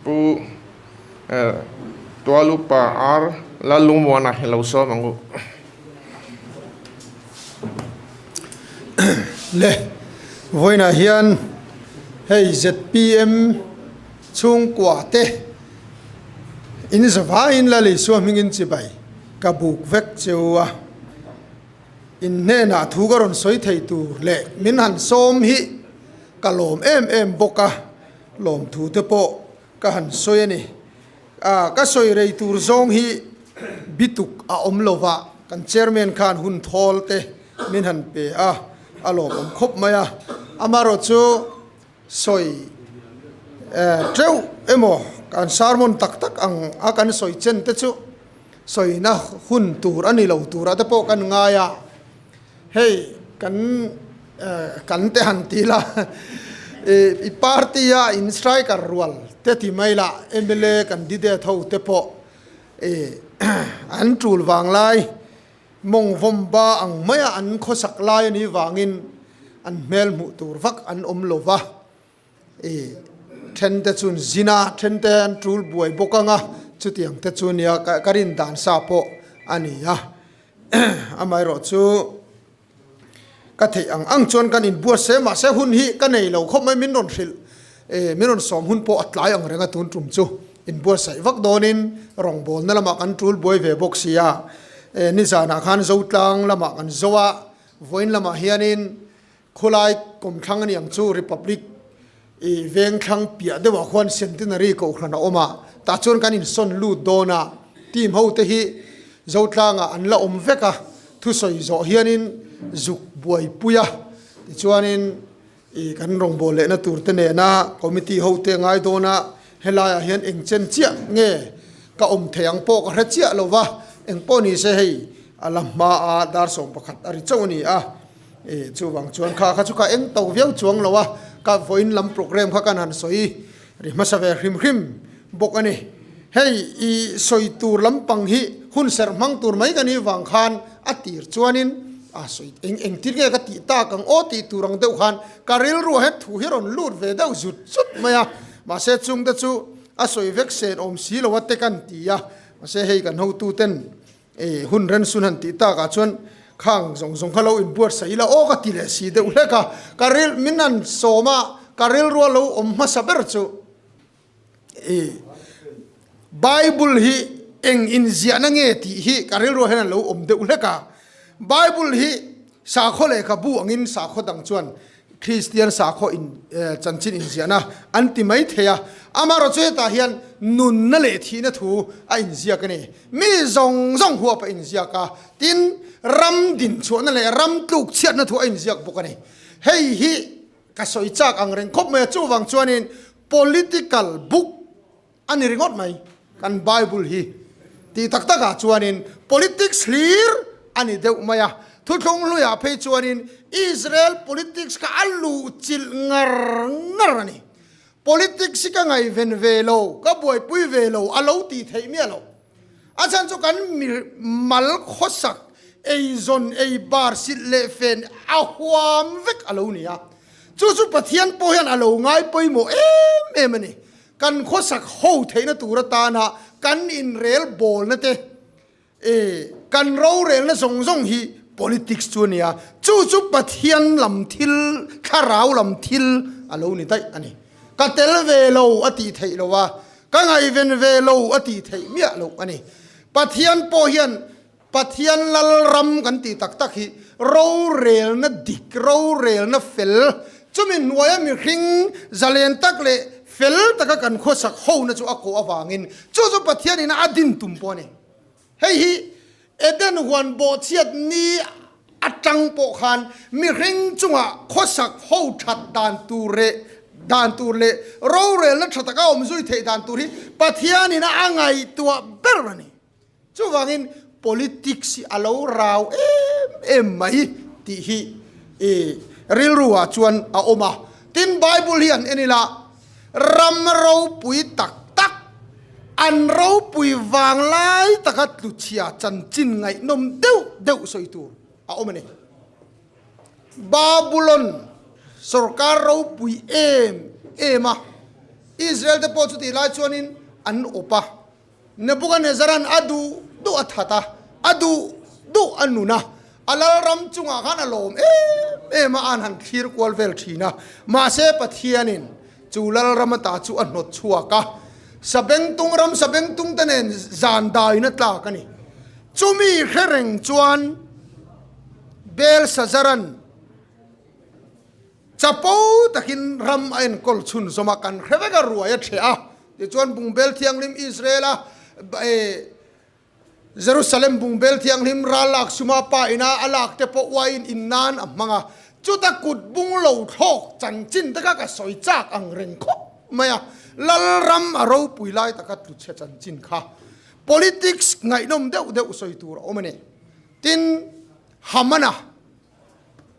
Pu Tualupa ar lal lungmuana hi lo sawm ang u. Le vawiinah hian hei zpm chhungkuah te in zavaiin Lali Suahmingin chibai ka buk vek che u a, in hnenah thu ka rawn sawi thei tur leh min han sawm hi ka lawm em em bawk a. Lawmthu te pawh ka han sawi a ni. Aaa ka sawi rei tur zawng hi bituk a awm lo vah, kan chairman khan hun thawl te min han pe a, a lawmawm khawp mai a. Amarawh chu sawi teuh emaw kan sermon tak tak ang a kan sawi chen te chu sawina hun tur a ni lo tura te pawh kan ngai a. Hei kan kan te han ti la i party a in striker rual te ti mai la mla candidate ho te pawh an tul vang lai mawng vawmba ang mai a an khawsak lai a nih vangin an hmel hmuh tur vak an awm lo va. I then te chun zin a, then te an tul buai bawk ang a, chutiang te chu nia ka rin dan sa pawh a ni a, amaherawh chu ka theih ang ang chuan kan in buat se mahse hun hi ka nei lo khawp mai min rawn hrilh min rawn sawm hun pawh a tlai ang reng a tun tum chu in buat saih vak dawn in rawn bawl na lamah kan tul buai ve bawk sia nizan ah khan zotlang lamah kan zo a vawiin lamah hian in Khawlai kawm thlang a niang chu Republic i veng thlang piah deuhah khuan Centenary kohhran a awm a, tah chuan kan insawn lut dawn a, team ho te hi Zotlangah an la awm vek a, thusawi zawh hianin zuk buaipui a, tichuanin i kan rawngbâwl lehna tur te nena committee ho te a ngai dawn a, helaiah hian engchen chiah nge ka awm thei ang pawh ka hre chiah lo va, engpawh ni se hei a la hmaa dar sawmpakhat a ri chauh a ni a. Ih chuvang chuan kha kha chu ka eng to viau chuang lo a, ka vawiin lam programme kha kan han sawi ri hmasa ve hrim hrim bawk a ni. Hei i sawi tur lampang hi hun serh hmang tur mai ka nih vang khan a tir chuanin a sawi eng eng tir nge ka tih tak ang aw tih tur ang deuh khan ka rilru ah hian thu hi a rawn lut ve deuh zut zut mai a, mahse chungte chu a sawi vek sen awm si lo a te kan ti a, mahse hei kan hotuten. I hun ren sun han tih tak ah chuan khang zawng zawng kha lo in buatsaih ila aw ka ti leh si deuh hlek a, ka rilh min han sawm a ka rilrual lo awm hmasa ber chu i bible hi eng in ziah na nge tih hi ka rilrual hian an lo awm deuh hlek a, bible hi sakhaw lehkhabu ang in sakhaw dang chuan Kristian sakhaw in chanchin inziahna an ti mai thei a. Amarawh chu hetah hian nunna leh thihna thu a inziak a ni. Mi zawng zawng huap a inziak a, tin, ram dinchhuahna leh ram tluk chhiatna thu a inziak bawk a ni. Hei hi ka sawi chak ang reng khawp mai a, chuvang chuanin political book, A ni ringawt mai. Kan Bible hi ti tak tak ah chuanin politics hlir a ni deuh mai a. Thuthlung hlui ah phei chuanin Israel politics kha a luh chilh ngar ngar a ni. Politics hi ka ngaihven ve lo, ka buaipui ve lo a lo ti theih miah lo. A chhan chu kan mi mal khawsak ei zawn ei bar silh leh fen a huam vek a lo ni a. Chu chu Pathian pawh hian a lo ngai pawimawh em em a ni. Kan khawsak ho theihna tur atana kan inrel bawlna te e, kan rorelna zawng zawng hi politics chu a ni a, chu chu Pathian lam thil, Thlarau lam thil a lo ni daih a ni. Ka tel ve lo a tih theih lo a, ka ngaiven ve lo a tih theih miah lo a ni. Pathian pawh hian. Pathian Lalram kan tih tak tak hi rorelna dik, rorelna fel, chumi hnuaia mihring zalen tak leh fel taka kan khawsak hona chu a kawh avangin chu chu Pathianin a din tum pawh a ni. Hei hi Eden huan bawhchhiat ni atang pawh khan mihring chunga khawsak ho that dan tur leh dan tur leh rorelna tha taka awmzui theih dan tur hi Pathianin a ngaihtuah ber a ni. Chuvangin politics hi a lo rau em em mai tih hi i rilruah chuan a awm a. Tin, Bible hi an en ila, ram ropui tak tak, an ropui vang lai taka tluchhia chanchin ngaihnawm deuh deuh sawi tur a awm a ni. Babulon sorkar ropui em em a, Israel te pawh chutihlai chuanin an awp a. Nebukanezaran a duh duh a that a, a duh duh a nun a, a lalram chungah khan a lawm em em a, an han thlir kual vel thin a. Mahse, Pathianin chu lalram ata chu a hnawt chhuak a, sabeng tung ram sabeng tungte nen zan dahin a tlak a ni. Chumi hre reng chuan Belsazaran. Chapo takin ram a enkawl chhun zawm a, kan hre vek a, ruai a chhe a. Tichuan bungbel thianghlim Israela Jerusalem bungbel thianghlim ral lak suma pa ina a lak te pawh uaiin in nan a hmang a. Chuta kut bung lo thlawk chanchin te kha ka sawi chak ang reng khawp mai a, Lalram a ropui lai taka tluchhe chanchin kha politics ngaihnawm deuh deuh sawi tur a awm a ni. Tin, Hamana.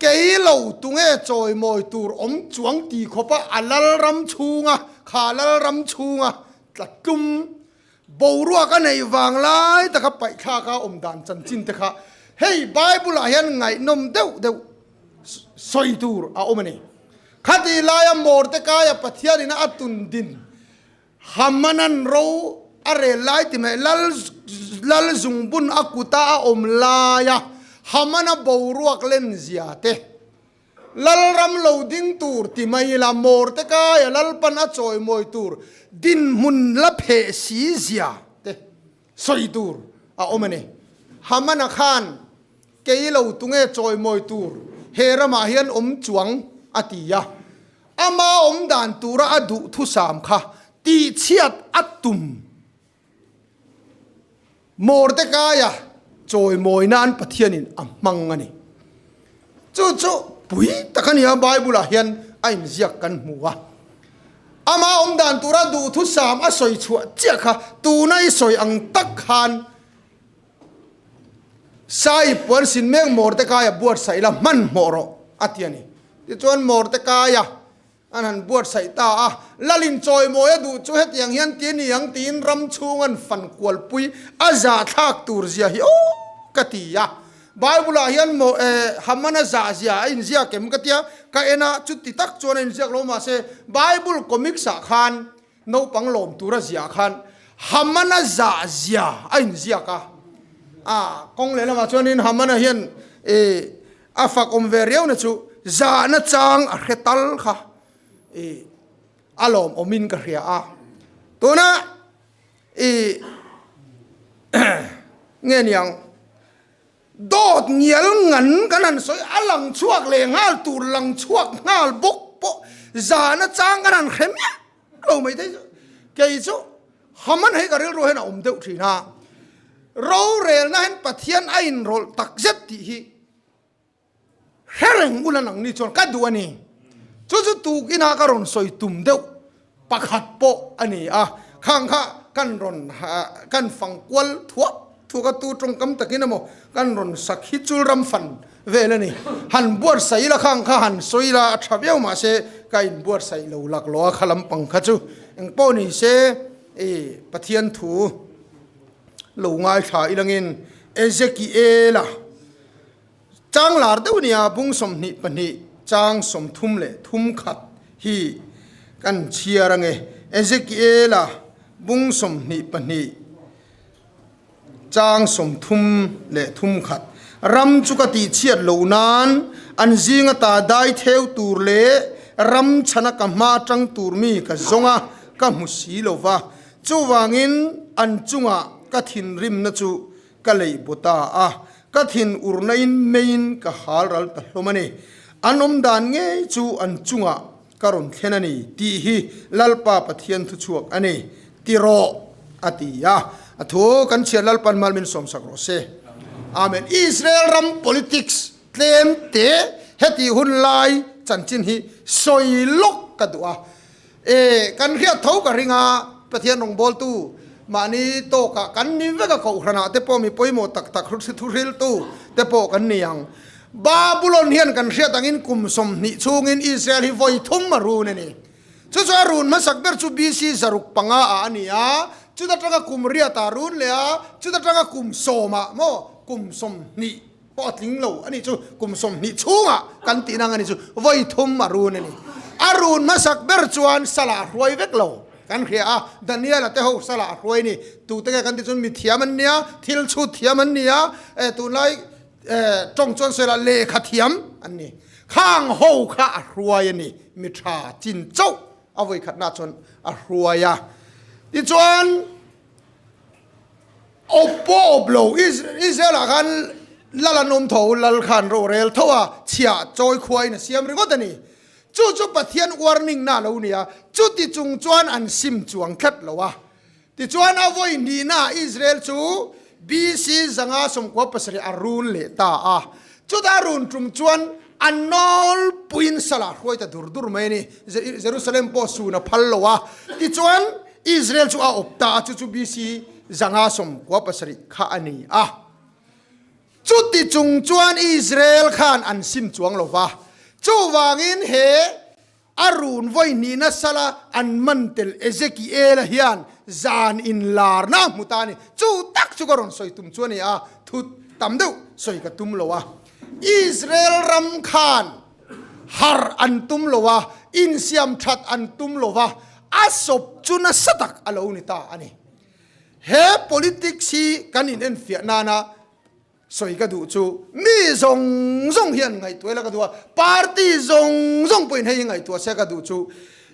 Kei lo tunge chawimawi tur awm chuang ti khawpa a Lalram chhunga kha Lalram chhunga tla tlum boruak a neih vang lai taka paihthlak a awm dan chanchin te kha hei Bible-ah hian ngaihnawm deuh deuh sawi tur a awm a ni. Khati laia mawrte kaia Pathianin a tundin Hamanan ro a rel lai ti mai. Lal zung bun a kuta a awm laia Hamana boruak len zia te, Lalram lo ding tur ti mai ila mawr te kaia Lalpan a chawi mawi tur dinhmun la pheh si zia te, sawi tur a awm a ni. Hamana khan kei lo tunge chawimawi tur he ramah hian awm chuang a ti a. Ama awm dan tura a duh thusam kha tihchhiat a tum Mordekaia chawimawi nan Pathianin a hmang a ni. Chu chu pui tak a ni a, Bible-ah hian a inziak kan hmu a. Amah awm dan tura duh thusam a sawi chhuah chiah kha tuna i sawi ang tak khan Sai puan sin mek Mordecai-a buatsaih la hmanhmawh rawh a ti a ni. Tichuan Mordecai-a An han buatsaih ta a, Lalin chawimawia duh chu hetiang hian ti ni ang tiin ram chhung an fan kualpui a zahthlak tur zia hi aw ka ti a. Bible-ah hian maw e, Hamana zah zia a inziak em ka tia ka en a, chuti tak chuan a inziak lo mahse Bible comics-ah khan Naupang lawm tura ziah khan Hamana zah zia a inziak a, a kawng leh lamah chuan in Hamana hian i a fakawm ve riau na chu zahna chang a hre tal kha i a lawm awmin ka hria a, tuna i nge niang. Dawt ngial ngan kan han sawi a lang chhuak leh nghal tur lang chhuak nghal bawk pawh zan achang kan han hre miah lo mai thei chu kei chu Haman hei ka rilru hian a awm deuh thin a, rorelna hian Pathian a inrawlh takzet tih hi. Thleng ula lang ni chuan ka duh a ni. Chu chu tuk ina ka rawn sawi tum deuh pakhat pawh a ni a, khang kha kan rawn kan fang kual thuak thuak a, tu tawngkam takin emaw kan rawn sak hi chul ram fan vel a ni. Han buatsaih ila khang kha han sawi ila a tha viau mah se ka in buatsaih lo lak lo a kha lampang kha chu eng pawh ni se i Pathian thu lo ngaithla ilangin Ezekiela Chang lar deuh nia bung sawmhnih pahnih chang sawmthum leh thum khat hi kan chhiar ange. Ezekiela bung sawmhnih pahnih chang sawmthum leh thum khat ram chu ka tih chhiat lo nan an zing ata dai theu tur leh ram chhana ka hma tang tur mi ka zawnga ka hmu si lova chuvangin an chungah ka thinrimna chu ka lei baw ta a, ka thin ur naiin meiin ka hal ral ta hlawm a ni. An awm dan ngei chu an chungah ka rawn thlen a ni tih hi Lalpa Pathian thuchhuak a ni. Ti rawh, a ti a. A thu kan Chhiat Lalpa'n mal min sawmsak rawh se. Amen. Israel ram politics tlem teh hetih hun lai chanchin hi sawi lawk ka duh a. E, kan hriat tho ka ring a, Pathian rawngbawltu, mahni tawkah kan ni vek a Kohhranah te pawh mi pawimawh tak tak thuhriltu te pawh kan ni ang. Babylon hian kan hriat angin kum sawmhnih chungin Israel hi vawi thum a run a ni. Chuchuan a run hmasak ber chu BC zaruk panga ah a ni a, chut atanga kum riatah a run leh a, chut atanga kum sawmah maw, kum sawmhnih Pawh a tling lo a nih chu, kum sawmhnih chhungah kan tihna anga nih chu vawi thum a run a ni. A run hmasak ber chuan sala a hruai vek lo kan hria a, Daniela te ho sala a hruai a ni. Tute nge kan tih chuan mithiam an nia, thil chhut thiam an nia, e tunlai e tawng chuan sawi lah lehkha thiam an ni. Khang ho kha a hruai a ni, mi tha chin chauh a vawi khatna chuan a hruai a. Tichuan. Awp pawh awp lo, Israel ah khan lal an awm tho, lal kha an rawhrel tho a, chhia chawi khua in a siam ringawt a ni. Chu chu Pathian warning na lo nia, chuti chung chuan an sim chuang tlat lo a. Tichuan a vawi hnihnaah Israel chu BC zanga sawmkua pasarih a run leh ta a. Chuta run tum chuan a nawl puiin salah hruai ta dur dur mai a ni. Jerusalem pawh sun a phal lo a. Tichuan, Israel chu a awp ta a, chu chu BC. zanga sawm kua pasarih kha a ni a. Chuti chung chuan Israel khan an sin chuang lo va. Chuvangin he. A run vawi hni nasa la an man tel Ezekiela hian zan inlarna a hmu ta a ni. Chu tak chu ka rawn sawi tum chu a ni a, thut tam deuh sawi ka tum lo a. Israel ram khan har an tum lo a, insiam that an tum lo a, a sawp chu nasa tak a lo ni ta a ni. He politics hi kan in enfiah nana, Sawi ka duh chu mi zawng zawng hian ngaihtuah ila ka duh a, party zawng zawng pawhin hei hi ngaihtuah sia ka duh chu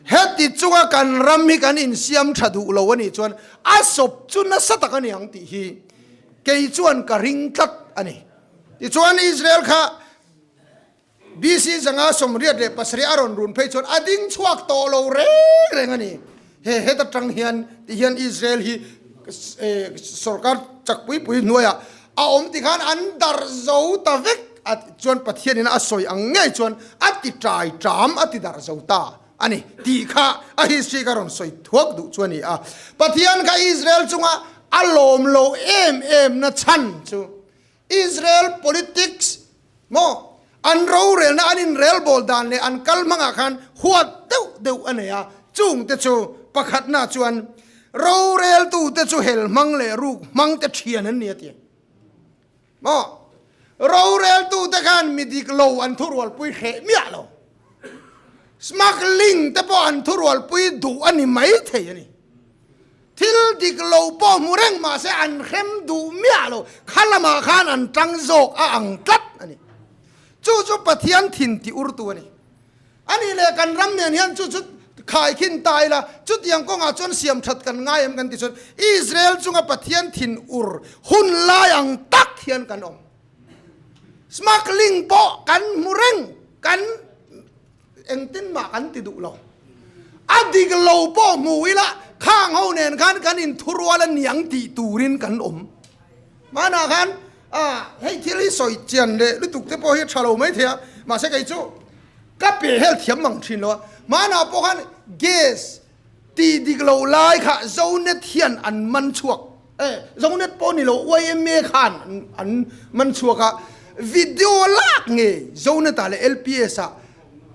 heti chunga kan ram hi kan insiam tha duh lo anih chuan a sawp chu nasa tak a niang tih hi kei chuan ka ring tlat a ni. Tichuan Israel kha BC zanga sawmriat leh pasarih a rawn run phei chuan a ding chhuak tawh lo reng reng a ni. He heta tang hian ti hian Israel hi sorkar chak pui pui hnuaiah a awm ti khan an darh zo ta vek a ti chuan Pathianin a sawi ang ngei chuan a ti ṭai ṭam a ti darh zo ta a ni tih kha a history ka rawn sawi thuak duh chu a ni a. Pathian kha Israel chunga a lawm lo em em na chhan chu Israel politics maw an rorelna an inrel bawl dan leh an kal hmangah khan huat deuh deuh a nei a, chung te chu pakhatna chuan roreltu te chu hel hmang leh ruk hmang te thian an ni a ti maw roreltu te khan mi dik lo an thu rualpui hreh miah lo smuggling te pawh an thu rualpui duh a ni mai thei a ni. Thil dik lo pawh hmu reng mah se an hrem duh miah lo kha lamah khan an tang zawk a ang tlat a ni. Chu chu Pathian thin ti urtu a ni. A nih leh kan ram nen hian chu chu khai khin ta ila, chutiang kawngah chuan siam that kan ngai em kan ti chuan Israel chunga Pathian thin ur hun lai ang tak hian kan awm. Smuggling pawh kan hmu reng kan Engtin mah kan ti duh lo. A dik lo pawh hmu ila khang ho nen khan kan in thu rual a niang tih turin kan awm. Mahna khan hei thil hi sawi chian leh lutuk te pawh hi a tha lo mai thei a, mahse kei chu ka pe hel thiam mang thin lo a. Mahna pawh khan gas, Ti dik lo lai kha Zonet hian an man chhuak e. Zonet pawh ni lo, yma khan an man chhuak a. Video lak nge Zonet ah leh LPS ah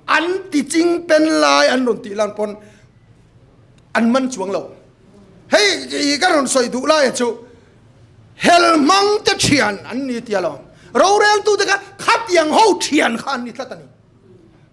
an tiching pen lai an rawn tih lan pawn an man chuang lo. Hei ka rawn sawi duh laia chu hel hmangte thian an ni tia lo. Roreltute kha khatiang ho thian kha an ni tlat a ni.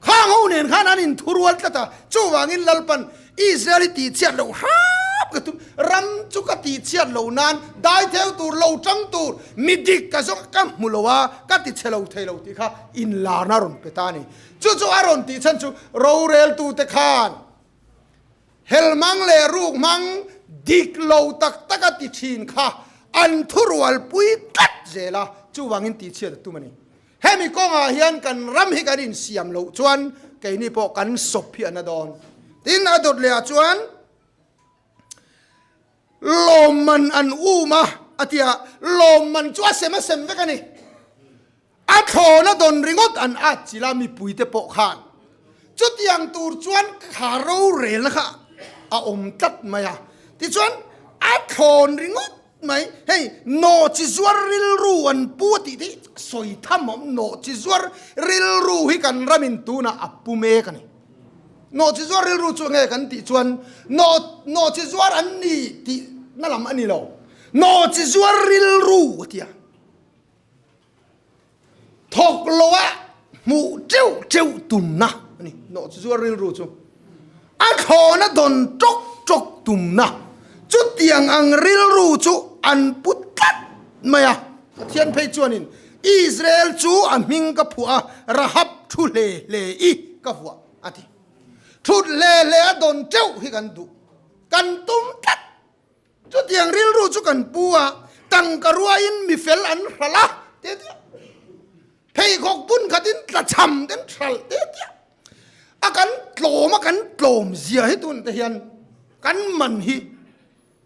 Khang ho nen khan an in thu rual tlat a, chuvangin Lalpan Israel i tihchiat loh hrap ka tum. Ram chu ka tihchiat loh nan dai theu tur, lo ṭang tur, mi dik ka zawng ka hmu lo a, ka ti chhe lo thei lo tih kha in lar na rawn pe ta a ni. Chu chu a rawn tih chhan chu roreltute khan helhmang leh rukhmang dik lo tak tak a ti ṭhin kha an thu rual pui tlat zel a, chuvangin tihchiat a tum a ni. Hemi kawngah hian kan ram hi kan insiam loh chuan keini pawh kan sawp hi a na dawn. Tin, a dawt lehah chuan lawmman an um a, a ti a. Lawmman chu a sem a sem vek a ni. A thlawna dawn ringawt an atchilh a, mipuite pawh khan. Chutiang tur chuan thla rorelna kha a awm tlat mai a. Tichuan, a thlawn ringawt Mai hei nawh chi zuar rilru an pu a tih te hi sawi tham awm nawh chi zuar rilru hi kan ram in tunah a pu mek a ni. Nawh chi zuar rilru chu ange kan tih chuan nawh nawh chi zuar an ni tihna lam a ni lo. Nawh chi zuar rilru a ti a. thawk loa hmuh cheuh cheuh tumna a ni. Nawh chu chu a rilru chu a thlawn a dawn tawk tawk tumna chutiang ang rilru chu an pu tlat mai a. Pathian phei chuanin, Israel chu a hming ka phuah a, Rahab thu hle hle i ka vuah, a ti. Thut hle hle a dawn teuh hi kan duh, kan tum tlat. Chutiang rilru chu kan pu a, tangka ruaiin mi fel an hralh a ti a. Pheikhawk bun khatin tla chham ten hralh ti a. A kan tlawm a kan tlawm zia hi tun te hian kan man hi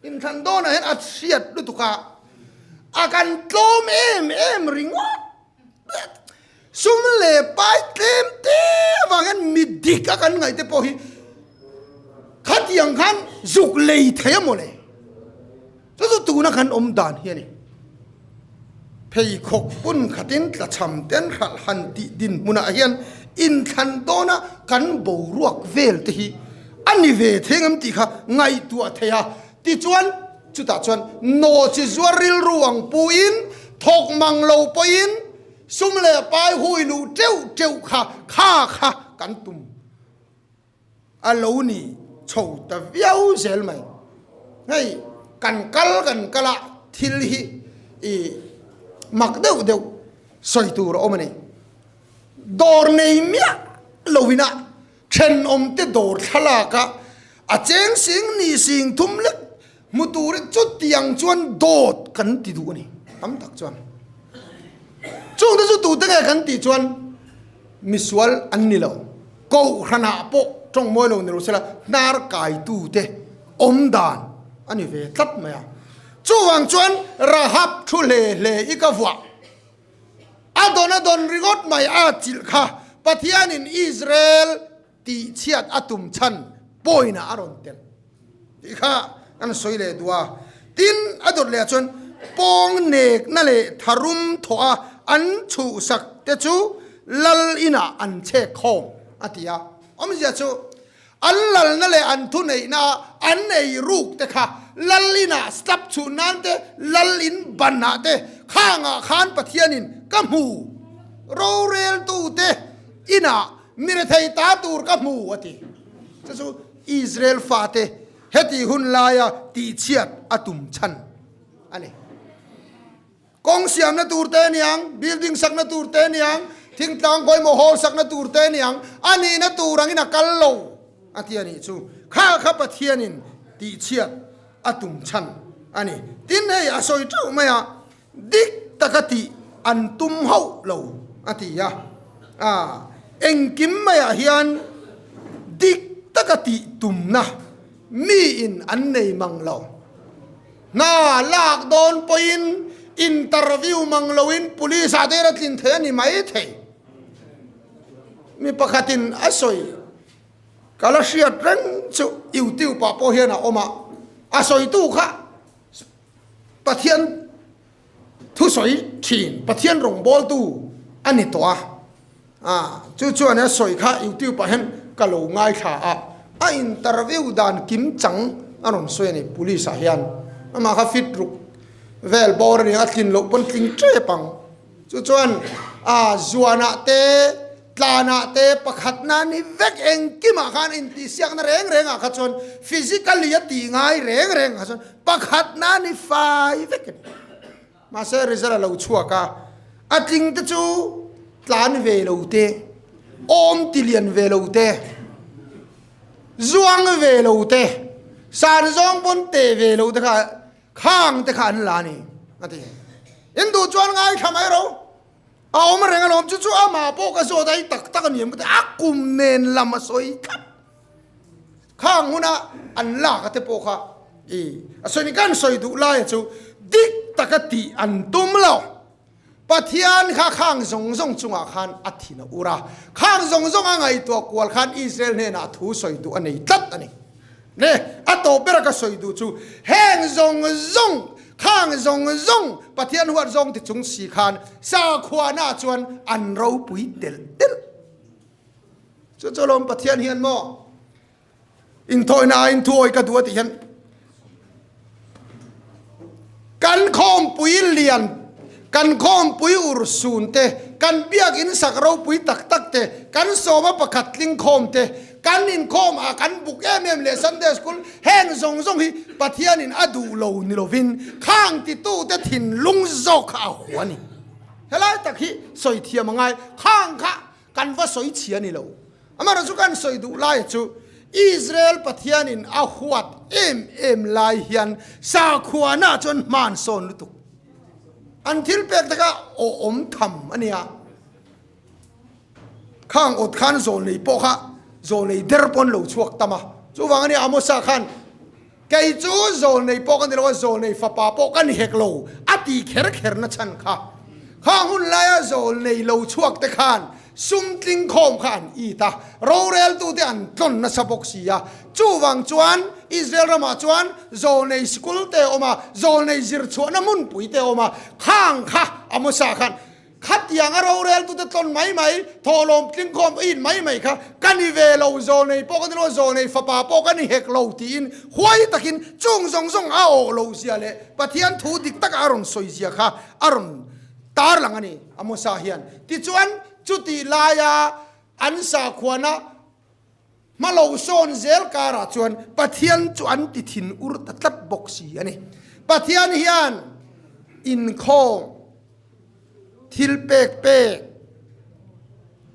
inthlan dawnah hian a hriat lutuk a, a kan tlawm em em ringawt Sum leh pai tlem te avang hian mi dik a kan ngaih te pawh hi khatiang khan zuk lei thei a maw le? Chu chu tuna kan awm dan hi a ni. Pheikhawk hun khatin tlachham ten hralh han tih dinhmunah hian inthlan dawna kan boruak vel te hi a ni ve theng em tih kha ngaihtuah thei a. Tichuan. Chutah chuan No chi zuar rilru ang puin thawk mang lo pawhin sum leh pai hui luh teuh teuh kha kha kha kan tum a lo ni chho ta viau zel mai. Hei kan kal kan kal a thil hi i mak deuh deuh sawi tur a awm a ni. Dawr nei miah loin a Thenawmte dawr thlalaka a cheng sing ni sing thum lek hmu tur chutiang chuan dawt kan ti duh a ni tam tak chuan chung te chu tute nge kan tih chuan misual an ni lo Kohhranah pawh tawngmawi lo ni lo sela hnar kai tu te awm dan a ni ve tlat mai a chuvang chuan Rahap thu hle hle i ka vuah. A dawn a dawn ringawt mai a chilh kha Pathianin Israel tihchhiat a tum chhan pawiinah a rawn telh tih kha kan sawi leh duh a. Tin, a dawt lehah chuan pawng nekna leh tharum thawha an chhuhsak te chu Lal inah an chhek khawm a ti a. Awmzia chu An lalna leh an thuneihna a an ei ruk te kha lal inah slap chhuh nan te, lal in banah te khangah khan Pathianin ka hmu. Roreltu te inah mi rethei ta tur ka hmu, a ti. Chu chu Israel fate heti hun laia tihchhiat a tum chhan a ni. Kawng siamna tur te ni ang, building sakna tur te ni ang, thingtlang pawimawh hawl sakna tur te ni ang, a nihna tur angin a kal lo a ti a nih chu. Kha kha Pathianin tihchhiat a tum chhan a ni. Tin, hei a sawi teuh maia dik taka tih an tum hauh lo a ti a. Aah, engkim maiah hian dik taka tih tumna miin an nei mang lo Hna lak dawn pawhin interview mang loin police ah der a tlin thei a ni maithei. Mi pakhatin a sawi, Ka la hriat reng chu YouTube ah pawh hian a awm a, a sawitu kha Pathian, Thusawi thin Pathian rawngbawltu a ni tawh a, ah chu chuan a sawi kha YouTube ah hian ka lo ngaithla a, a interview dan kim chang a rawn sawi a ni Police ah hian, amah kha fit ruk vel bawr a ni a, a tlin loh pawn tling tep ang, chu chuan ah zuan ah te, Tlanah te pakhat nan hi vek engkimah khan intihsiakna reng rengah kha chuan physically a tih ngai reng rengah chuan pakhat nan hi fai vek a ni. Mahse result a lo chhuak a, a tling te chu tlan ve lo te, awm ti lian ve lo te, zuang ve lo te, san zawng pawn te ve lo te kha khang te kha an la a ni a ti. In duh chuan ngaithla mai ro. A awm reng alawm chu chu amah pawh ka zawt ai tak tak aniang ka ti a kum nen lam a sawi tlat khang huna an lak ate pawh kha i a sawi ni ka an sawi duh laia chu dik taka ti an tum lo Pathian kha khang zawng zawng chungah khan a thin a ur a khang zawng zawng a ngaihtuah kual khan Israel hnenah thu sawi duh a nei tlat ani. Hne, a tawp ber a ka sawi duh chu, heng zawng zawng, khang zawng zawng Pathian huat zawng ti chung si khan sakhuana chuan an ropui telh telh. Chu chu lawm Pathian hian maw inthawihnaah inthuawi ka duh a tih hian. Kan khawmpui lian, kan khawmpui ur sun te, kan biakinn sak ropui tak tak te, kan sawma pakhat tling khawm te, kan inkhawm ah kan buk em em leh Sunday School heng zawng zawng hi Pathian in a duh lo ni lo in khang ti tu te thinlung zawk kha a hua a ni. Helai tak hi sawi thiam a ngai khang kha Kan va sawi chhia ni lo. Amaherawh chu kan sawi duh laia chu Israel Pathianin a huat em em lai hian sakhuana chuan hmaan sawn lutuk. An thil pek taka aw awm tham a nia. Khang awt khan zawlnei pawh kha zawlnei der pawh an lo chhuak tam a. Chuvang ania Amosa khan Kei chu Zawlnei pawh ka ni lo a, Zawlnei fapa pawh ka ni hek lo, a ti kher kher na chhan kha. Kha hun laia Zawlnei lo chhuak te khan sumtling khawm kha an it a, rorel tu te an tlawn nasa bawk si a. Chuvang chuan Israel ramah chuan Zawlnei School te awm a, Zawlnei zir chhuahna hmunpui te awm a, khang kha a hmasa khan, Khatiang a roreltute tlawn mai mai, thawhlawm tlingkhawm a in mai mai kha ka ni ve lo, zaw nei pawh ka ni lo, zaw nei fapa pawh ka ni hek lo tiin huai takin chung zawng zawng a awh lo zia leh Pathian thu dik takah a rawn sawi zia kha a rawn tarlang a ni a Mosa hian. Tichuan, chutih laia an sakhuana. Hma lo sawn zel karah chuan Pathian chu an ti thin ur ta tlat bawk si a ni. Pathian hian inkhawm, thil pek pek,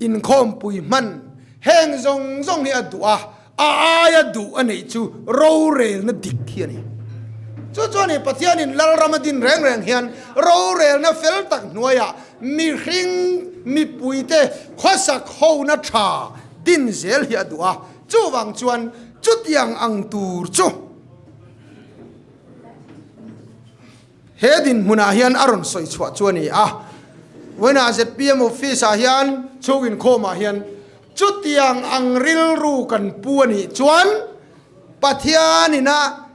inkhawmpui hman heng zawng zawng hi a duh a, a aia duh a neih chu rorelna dik hi a ni. Chu chuan hei Pathianin Lalram a din reng reng hian rorelna fel tak hnuaiah mihring, mipuite khawsak hona tha, tin zel hi a duh a, chuvang chuan chutiang ang tur chu he dinhmunah hian a rawn sawi chhuah chu a ni a, Wena zpm office ah hian chhung inkhawm ah hian chutiang ang rilru kan pu a nih chuan Pathian in a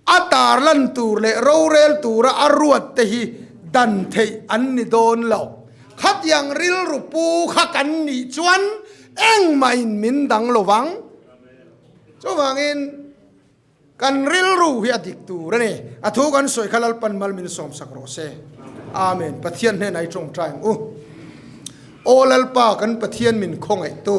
A tarlan tur leh rorel tura a ruat te hi dan theih an ni dawn lo. Khatiang rilru pu kha kan nih chuan engmahin min dang lo vang. Chuvangin kan rilru hi a dik tur a ni. A thu kan sawi kha Lalpan mal min sawmsak rawh se. Amen. Pathian hnenah i tawngtai ang u. Aw Lalpa kan Pathian min khawngaihtu,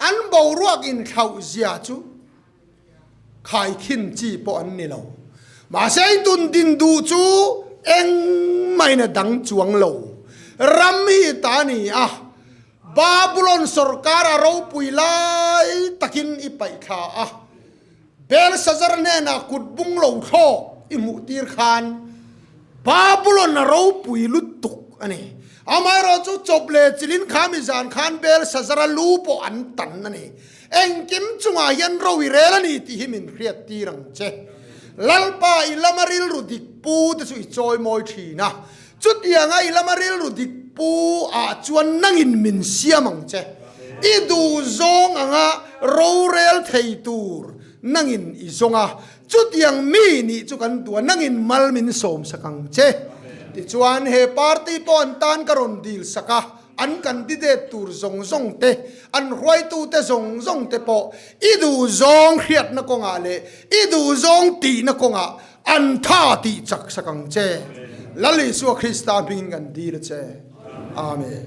An boruak inhlauh zia chu khai thin chi pawh an ni lo. Mahse i tun din duh chu engmahin a dang chuang lo. Ram hi ta ni a, Babulon sorkar a ropui lai takin i paihthla a. Belsazar hnenah kut bunglo thlawk i hmuhtir khan Babulona ropui luttuk a ni. Amaherawhchu, chawp leh chilin kha mi zan khan Belsazara lu pawh an tan a ni. Engkim chungah hian ro i rel a ni tih hi min hriattir ang che. Lalpa i lama rilru dikpute chu i chawi mawi thin a, Chutianga i lama rilru dik pu ah chuan nangin min siam ang che. I duhzawng anga rorel thei tur nangin i zawng a, chutiang mi nih chu kan tua nangin mal min sawmsak ang che. Tichuan he party pawh an tan ka rawn dil sak a, an candidate tur zawng zawng te, an hruaitute zawng zawng te pawh i duhzawng hriatna kawngah leh i duhzawng tihna kawngah, An tha tih chak sak ang che. Lal Isua Krista hmingin kan dil che. Amen.